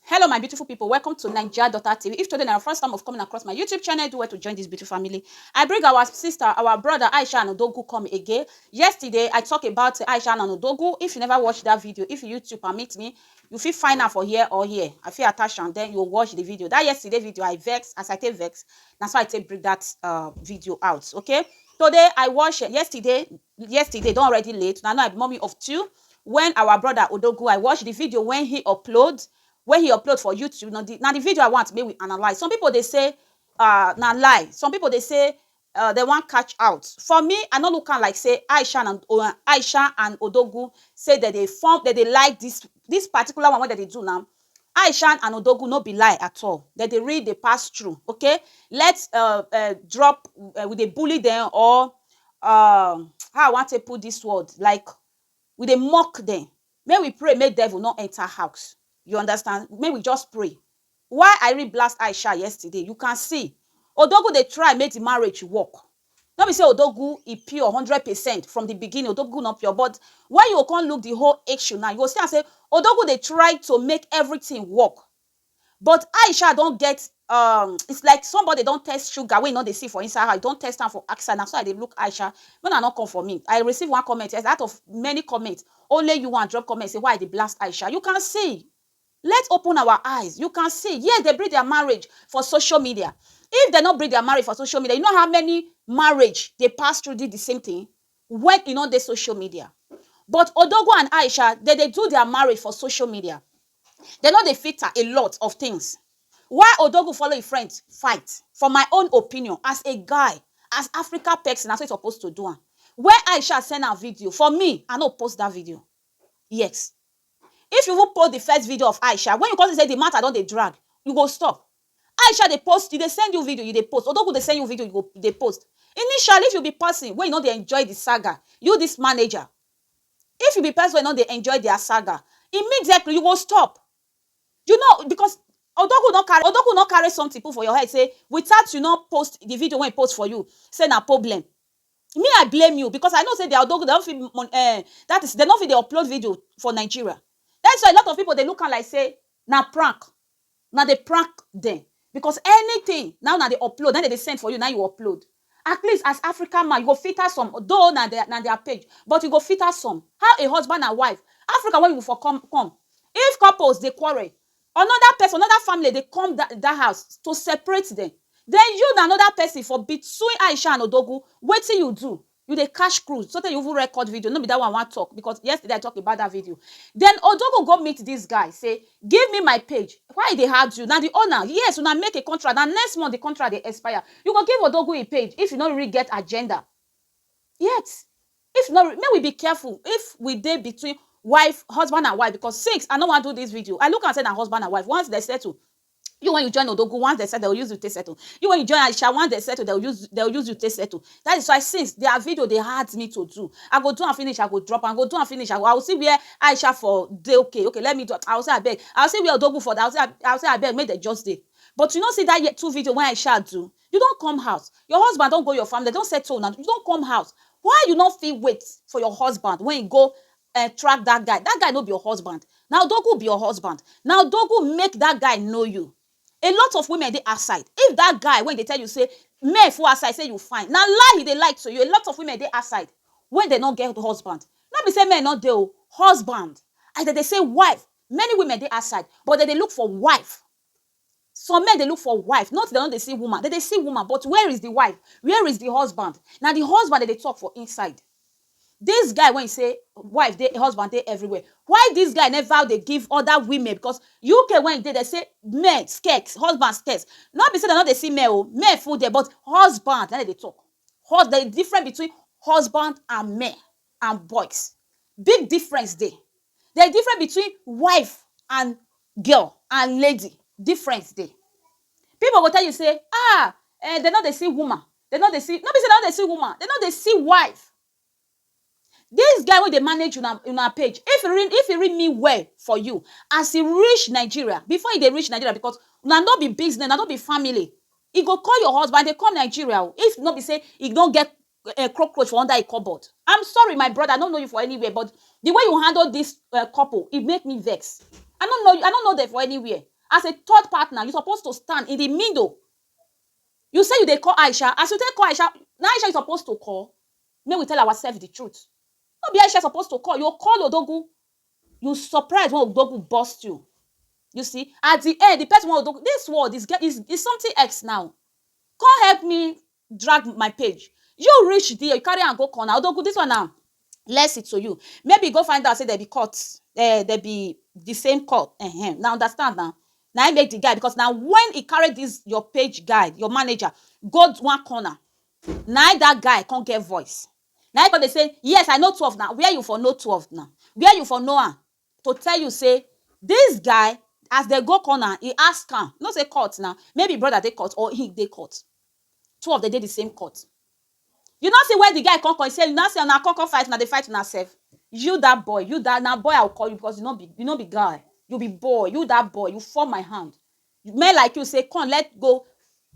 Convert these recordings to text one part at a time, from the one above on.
Hello my beautiful people, welcome to Naija Daughter TV. If today na your first time of coming across my YouTube channel, do well to join this beautiful family. I bring our sister, our brother Aisha Anodogu come again. Yesterday, I talk about Aisha Anodogu. If you never watch that video, if YouTube permit me, you fit find am for here or here. I fit attach am, then you watch the video. That yesterday video, I vex, as I take vex, na so I take bring that uh, video out, okay? Today, I watch, yesterday, Yesterday don already late na now I be mummy of two when our brother Odogwu I watch the video when he upload when he upload for YouTube na the na the video I want make we analyse some people dey say uh na lie some people dey say uh dem wan catch out for me I no look am like say Aisha and Aisha and Odogwu say dem dey form dem dey like this this particular one wey dem dey do now Aishan and Odogwu no be lie at all dem dey really dey pass through okay let's uh, uh, drop uh, we dey bully them or uh, how I wan take put this word like we dey mock them make we pray make devil no enter house you understand make we just pray why I read blast Aisha yesterday you can see Odogwu dey try make the marriage work No be say Odogwu e pure hundred percent from the beginning, Odogwu no pure but when you go come look the whole issue now, you go see am say Odogwu dey try to make everything work but Aisha don get um it's like somebody don test sugar wey e no dey see for inside her, e don test am for outside, na so I dey look Aisha, make una no come for me, I receive one comment yesterday out of many comments, only you wan drop comment say why I dey blast Aisha, you can see. Let open our eyes you can see yes dey bring their marriage for social media if dey no bring their marriage for social media you know how many marriage dey pass through did the same thing when e no dey social media but odogwu and aisha dey dey do their marriage for social media dey no dey filter a lot of things why odogwu follow him friend fight for my own opinion as a guy as africa person na so e suppose to do am when aisha send am video for me i no post that video Yes if you even post the first video of Aisha when you come see say the matter don dey drag you go stop Aisha dey post e dey send you video you dey post Odogwu dey send you video you go dey post initially if you be person wey you no dey enjoy the saga you this manager if you be person wey you no dey enjoy their saga immediately you go stop you no because Odogwu no carry Odogwu no carry something put for your head say without you no post the video wey he post for you say na problem. Me I blame you because I know say their odogwu dem no fit mon eh that is dem no fit dey upload video for Nigeria that is why a lot of people dey look am like say na prank una dey prank dem because anything na im una dey upload na im dem dey send for you na im you upload at least as African man you go filter some though na their na their page but you go filter some how a husband and wife Africa wey we for come come if couples dey quarrel Another person, another family dey come that that house to separate them. Then you na another person for between Aisha and Odogwu, wetin you do? You dey catch cruise so tey you even record video, no be that one I wan talk because yesterday I talk about that video. Then Odogwu go meet this guy say, give me my page, why e dey hard you? Na the owner, yes una make a contract, na next month the contract dey expire, you go give Odogwu e page if you no really get agenda. Yet If not make we be careful if we dey between wife husband and wife because since I no wan do this video I look am say na husband and wife once dem settle you when you join odogwu once dem settle dem go use you take settle you when you join aisha once dem settle dem go use dem go use you take settle that is why since their video dey hard me to do I go do am finish I go drop am I go do am finish I go see where aisha for dey okay okay let me do am I go say abeg I go see where odogwu for dey I go say abeg make dem just dey but you no see that two video wey aisha do You don come house, your husband don go your family, dem don settle una, you don come house, why you no fit wait for your husband wey e go um track dat guy? Dat guy no be your husband, na odogwu be your husband, na odogwu make dat guy know you. A lot of women dey outside, if dat guy wey e dey tell you sey men full outside sey you fine, na lie e dey lie to you, a lot of women dey outside wey dem no get husband, no be sey men no dey o, husband, as dem dey sey wife, many women dey outside but dem dey look for wife, Some men dey look for wife, not dem no dey see woman, dem dey see woman but where is the wife, where is the husband, na the husband dem dey talk for inside. This guy wey e say wife dey, husband dey everywhere, why this guy never dey give other women because UK wey e dey dem say men scarce, husband scarce, no be say dem no dey see men o, men full there but husband na im dem dey talk, hus, there is difference between husband and men. and boys. Big difference dey. There is difference between wife and girl and lady, difference dey. Pipu go tell you sey um um dem no dey see woman, dem no dey see, no be sey dem no dey see woman, dem no dey see wife. Dis guy wey dey manage una una page, if e real if e real mean well for you, as e reach Nigeria, before e dey reach Nigeria because una no be business, una no be family, e go call your husband, I dey come Nigeria o, if no be sey e no get um cockroach for under e cupboard am sorry my brother i no know you for anywhere but the way you handle this um couple e make me vex i no know i no know them for anywhere as a third partner you suppose to stand in the middle you say you dey call Aisha as you take call Aisha na Aisha you suppose to call make we tell ourselves the truth no be Aisha you suppose to call you go call Odogwu you surprise when Odogwu burst you you see at the end the person wey Odogwu this world is get is is something else now come help me drag my page you reach there you carry am go corner odogu this one na lesson to you maybe you go find out say dem be court um dem be the same court um una understand na na him make the guy because na when he carry this your page guy your manager go one corner na him that guy come get voice na him come dey say yes i know twelve na where you for know twelve na where you for know am to tell you sey dis guy as dem go corner e ask am, you know sey court na maybe brother dey court or im dey court, two of dem dey de same court, you no see where de guy come call sey you no see una come come fight una dey fight una self, you dat boy you dat na boy I go call you because you no be you no be guy you be boy you dat boy you fall my hand men like you sey come let go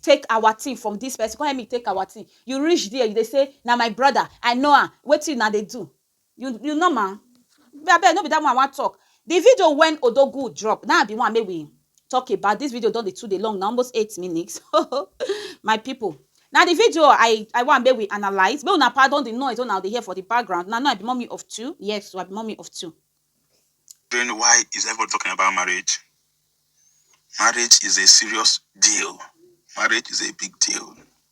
take our thing from dis person come help me take our thing you reach there you dey sey na my brother I know am wetin una dey do You you know ma me abeg no be that one I wan talk the video when Odogwu drop na be one make we talk about this video don dey too dey long na almost eight minutes my people na the video I I wan make we analyse make una pardon the noise wey una dey hear for the background na no I be mommy of two yes so I be mommy of two. Then why is everybody talking about marriage? Marriage is a serious deal. Marriage is a big deal.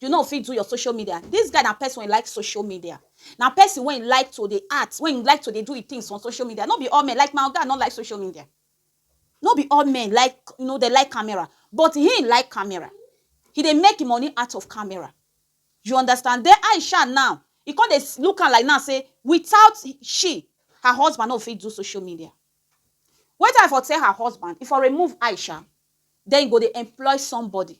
You no fit do your social media. This guy na person wey like social media. Na person wey like to dey act, wey like to dey do him things for social media. No be all men like my oga no like social media. No be all men like you know dey like camera but him like camera. He dey make him money out of camera. You understand. Then Aisha now, he come dey look am like now say without she, her husband no fit do social media. Wetin I for tell her husband, he for remove Aisha, then he go dey employ somebody.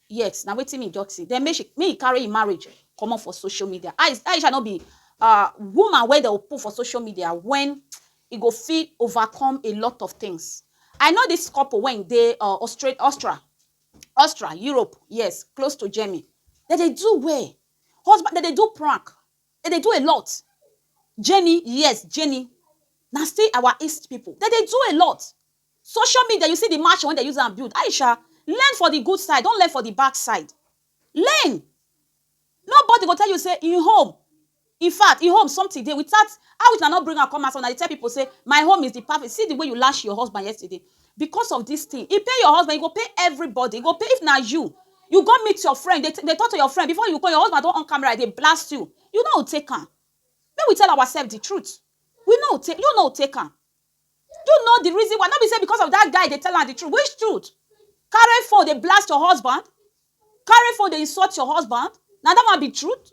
Yes, na wetin me just see. Then make she make he carry him marriage comot for social media. Aisha no be uh, woman wey they will put for social media when he go fit overcome a lot of things. I know this couple when they uh, Australia, Austria, Austria, Europe, yes, close to Germany. That they do well. Husband, that they do prank. That they do a lot. Jenny, yes, Jenny. Now still our East people. That they do a lot. Social media you see the mansion wey dem use am build Aisha learn for the good side don't learn for the back side learn nobody go tell you say him home infact him home something dey without how is una no bring am come outside una dey tell people say my home is the perfect see the way you lash your husband yesterday because of this thing he pay your husband he go pay everybody he go pay if na you you go meet your friend dey dey talk to your friend before you call your husband don on camera dey blast you you no go take am make we tell ourselves the truth we no go take you no go take am Do you know the reason why? No be say because of that guy dey tell am the truth. Which truth? Carry phone dey blast your husband? Carry phone dey insult your husband? Na that one be truth?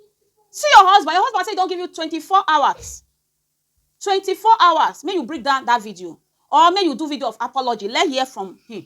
See your husband, your husband say he don give you twenty four hours, twenty four hours make you bring down that video or make you do video of apology, let hear from him.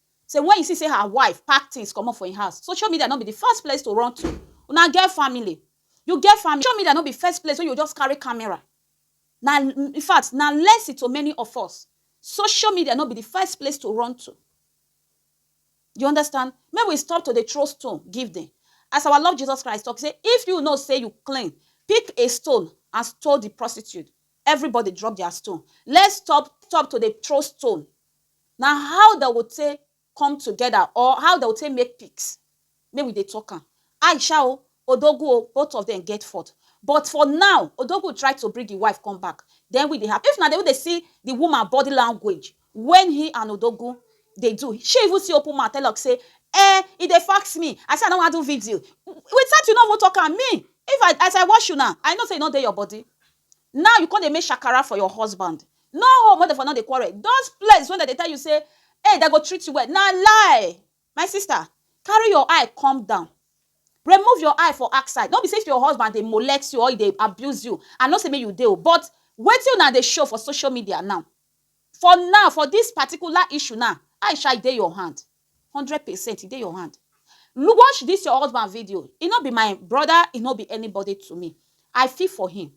Say when e see say her wife pack things comot for im house, social media no be the first place to run to. Una get family, you get family, social media no be first place wey you go just carry camera. Na in fact, na lesson to many of us. Social media no be the first place to run to. You understand? Make we stop to dey throw stone give dem. As our Lord Jesus Christ talk say, if you know say you clean, pick a stone and stone the prostitute. Everybody drop their stone. Let's stop stop to dey throw stone. Na how dem go take come together or how dem go take make pics make we dey talk am. Aisha o, Odogwu o, both of dem get fault but for now, Odogwu try to bring im wife come back then wetin dey happen? If una dey even dey see the woman body language when he and Odogwu dey do, she even still open mouth tell am say Eh, e dey fax me, I say I no wan do video, without you no even talk am, me if I, as I watch una, I know say e no dey your body. Now you come dey make shakara for your husband. No home wey dem for no dey quarrel. Those place wey dem dey tell you say hey dem go treat you well na lie. My sister carry your eye come down. Remove your eye for outside. No be say if your husband dey molect you or e dey abuse you, I no say make you dey o but wetin una dey show for social media now For now, for dis particular issue now, Aisha, e dey your hand. Hundred percent, e dey your hand. Watch dis your husband video. E no be my brother, e no be anybody to me. I feel for him.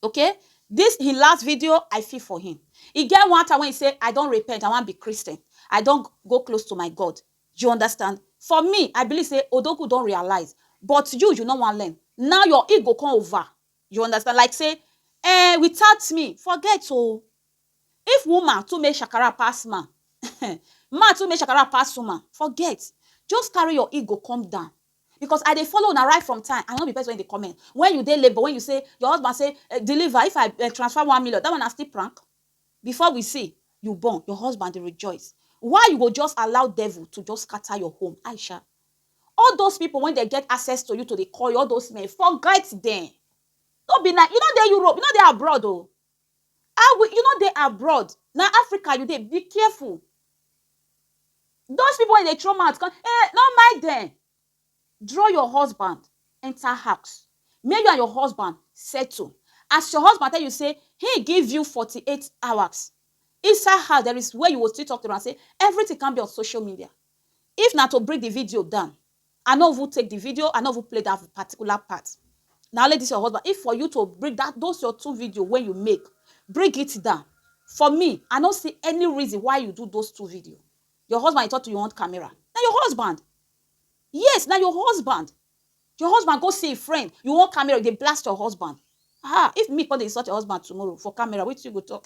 Okay? Dis him last video, I feel for him. E get one time wey e say, I don repent, I wan be Christian. I don go close to my God. You understand? For me, I believe say Odogwu don realize, but you, you no wan learn. Now your ego come over. You understand? Like say, eh, without me, forget oh. If woman too make shakara pass man, man too make shakara pass woman, forget. Just carry your ego come down. Because I dey follow una right from time. I no be person wey dey comment. When you dey labor, when you say, your husband say, eh, deliver, if I eh, transfer one million, that one na still prank. Before we see, you born, your husband dey rejoice. Why you go just allow devil to just scatter your home? Aisha, All those people when they get access to you to dey call you, all those men, forget them. No be na, you no dey Europe, you no dey abroad o. Oh. I will, you no dey abroad. Na Africa you dey, be careful. Those people when they throw mouth, come, eh, no mind them. Draw your husband, enter house. Make you and your husband settle. As your husband tell you, say, he give you 48 hours. Inside house, there is where you will still talk to him and say, everything can be on social media. If na to bring the video down, I no even take the video, I no even play that particular part. Na only this your husband. If for you to bring that those your two video wey you make, bring it down. For me, I no see any reason why you do those two video. Your husband you talk to you want camera. Na your husband. Yes, na your husband. Your husband go see a friend, you want camera, you dey blast your husband. Ah, if me come dey insult your husband tomorrow for camera, wetin you go talk?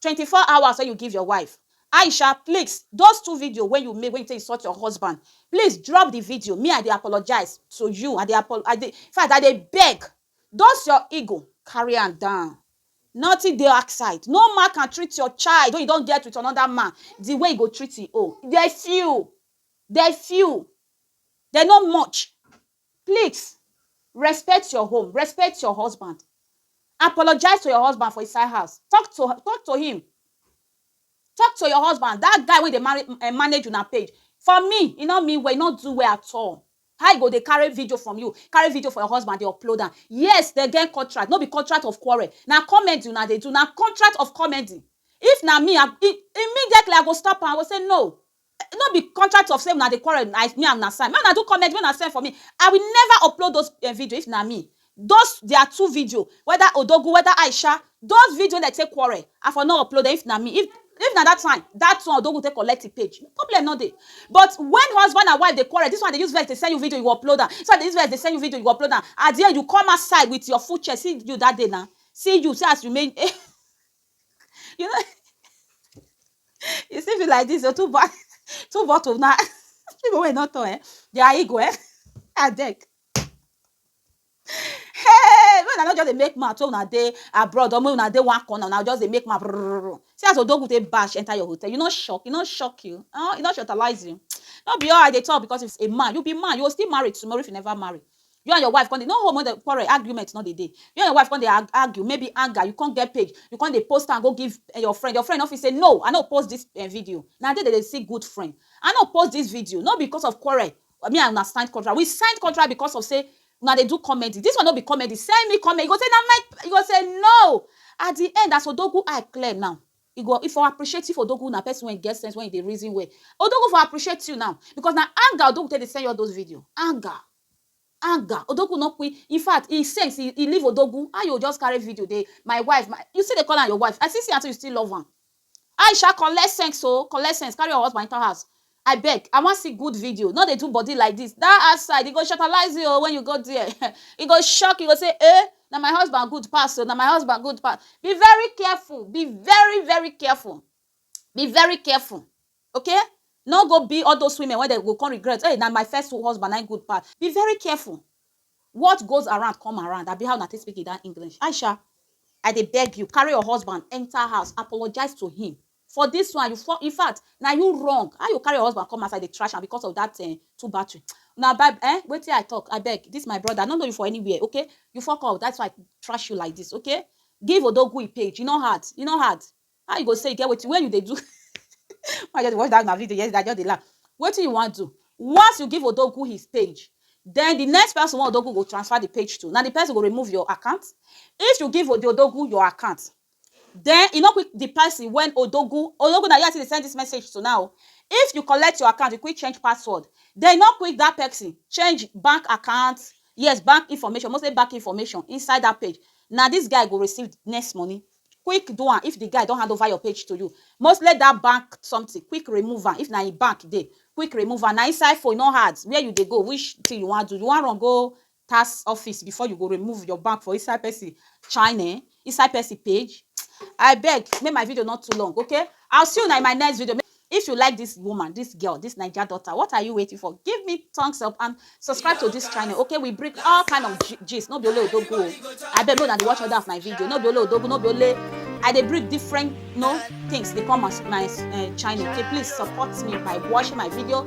Twenty four hours wey you give your wife. Aisha pleax those two video wey you make wey you take insult your husband please drop the video me I dey apologize to you I dey apo I dey infact I dey beg those your ego carry am down nothing dey outside no man can treat your child wey you don get with another man the way you go treat him own they few they few they no much. Please respect your home, respect your husband, apologize to your husband for inside house, talk to talk to him, talk to your husband, dat guy wey dey marry um manage una page, for me e no mean well, e no do well at all, how e go dey carry video from you, carry video from your husband dey upload am, yes dem get contract, no be contract of quarrel, na comedy una dey do, na contract of comedy, if na me I, immediately I go stop am, I go say no, no be contract of sey una dey quarrel na me and una sign, make una do comment make una send for me, I will never upload those video if na me, those their two video whether Odogwu whether Aisha those video wey dem take quarrel I for no upload dem if na me, if na dat time dat one Odogwu take collect im page problem no dey but when husband and wife dey quarrel dis one dey use vex dey send you video you go upload am, dis one dey use vex dey send you video you go upload am, at de end you come outside with your full chest see you dat day na, see you see as you remain. You know, you see me like this, oh, two, bo- two bottle now. People will not know, eh? They are ego, eh? I beg. Hey, when I not just dey make mouth, so una dey abroad, or when una dey one corner, una just dey make mouth. brrrr. See as Odogu take bash enter your hotel. You not shock, you not shock you. Oh, you not shortalize you. Not be all I dey talk because it's a man. You be man, you will still marry tomorrow if you never marry. You and your wife come dey, no home no quarrel, argument no dey dey. You and your wife come dey argue, maybe anger, you come get page, you come dey post am go give your friend, your friend no fit say no, I no post dis video. Na there dem dey see good friend. I no post dis video, no be because of quarrel, me and una sign contract. We sign contract because of sey una dey do comedy. Dis one no be comedy, send me comedy, you go say na my, you go say no. At the end, as Odogwu eye clear now, e go, e for appreciate if Odogwu na person wey get sense, wey dey reason well. Odogwu for appreciate you now because na anger Odogwu take dey send you all those video, anger. Anger odogwu no kwi infact e sex e e leave odogwu how you go just carry video dey my wife my you still dey call am your wife i still see am say you still love am Aisha collect sense oo collect sense carry your husband enter house i beg i wan see good video no dey do body like this that outside e go shattalize you oo when you go there um e go shock you go say eh na my husband good pass oo na my husband good pass be very careful be very very careful be very careful. Ok no go be all those women wey dem go come regret hey na my first husband na him good pass be very careful what goes around come around abi how una take speak that English Aisha I dey beg you carry your husband enter house apologize to him for this one you fall infact na you wrong how you go carry your husband come outside dey trash am because of that um two battery na by um wetin I talk abeg this my brother I no know you for anywhere ok you fuck up that's why I trash you like this ok give odogwu him page e no hard e no hard. How you go say e get wetin wey you dey do I just dey watch that una video yesterday I just dey laugh wetin you wan do once you give Odogwu his page then the next person wey Odogwu go transfer the page to na the person go remove your account if you give the Odogwu your account then e no quick the person when Odogwu Odogwu na you I still dey send this message to now o if you collect your account you quick change password then e no quick that person change bank account yes bank information mostly bank information inside that page na this guy go receive next money quick do am if the guy don hand over your page to you mostly that bank something quick remove am if na him bank dey quick remove am na inside phone e no hard where you dey go which thing you wan do you wan run go tax office before you go remove your bank for inside person channel inside person page abeg make my video no too long okay i will see una in my next video. If you like this woman, this girl, this Naija daughter, what are you waiting for? Give me thumbs up and subscribe to this channel, okay? We bring all kind of gist, no be only odogu o. I beg no na dey watch other of my video, no be only odogu, no be only I dey bring different no things dey come as my uh, channel. Okay, please support me by watching my video,